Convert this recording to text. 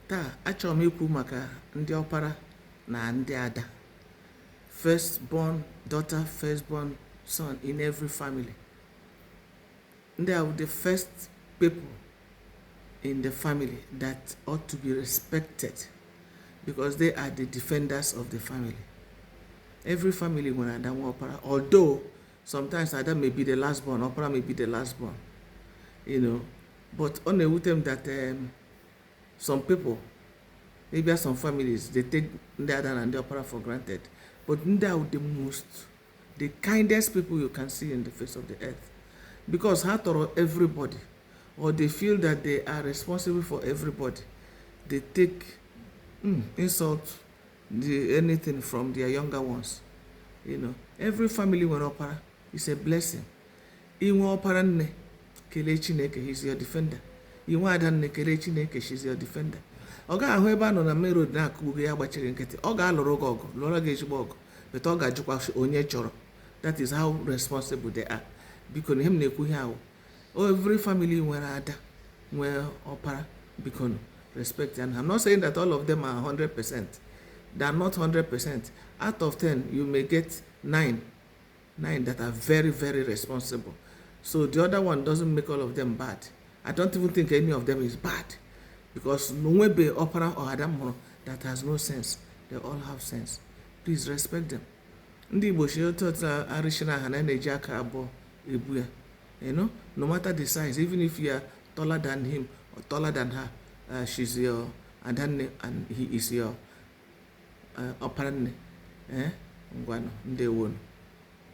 Taa, achọrọ m ikwu maka ndị ọpara na ndị ada. First born daughter, first born son in every family. Ndị a are the first people in the family that ought to be respected because they are the defenders of the family. Every family nwere ada nwee ọpara although sometimes ada may be the last born, ọpara may be the last born, you know, but ọ na-ewute m that um, some people ịbịa some families they take ndị ada na ndị ọpara for granted but ndị ahụ the most the kindest people you can see in the face of the earth because ha tọrọ everybody or they feel that they are responsible for everybody they take mm, insult the, anything from their younger ones you know every family nwere ọpara is a blessing I nwee ọpara nne kelee Chineke he's your defender. I nwee ada nne kelee Chineke she's your defender. Ọ gaghị ahụ ebe a nọ na main road na-akụgbu gị ya gbachiri nkịtị ọ ga-alụrụ gị ọgụ lụọrọ gị ezigbo ọgụ before ọ ga-ajụkwa onye chọrọ that is how responsible they are biko na ihe m na-ekwu ihe ahụ every family nwere ada nwee ọpara biko respect and I'm not saying that all of them are 100 percent they are not 100 percent out of 10 you may get 9 nine that are very very responsible so the other one doesn't make all of them bad i don't even think any of them is bad because nonwebe opara or adam hụrụ that has no sense they all have sense please respect them ndị igbo si otu otu arịsị na aha na na-eji aka abụọ ebu ya you know no matter the size even if you are taller than him or taller than her uh, she's your adanne and he is your ọpara nne ngwanụ ndewo nụ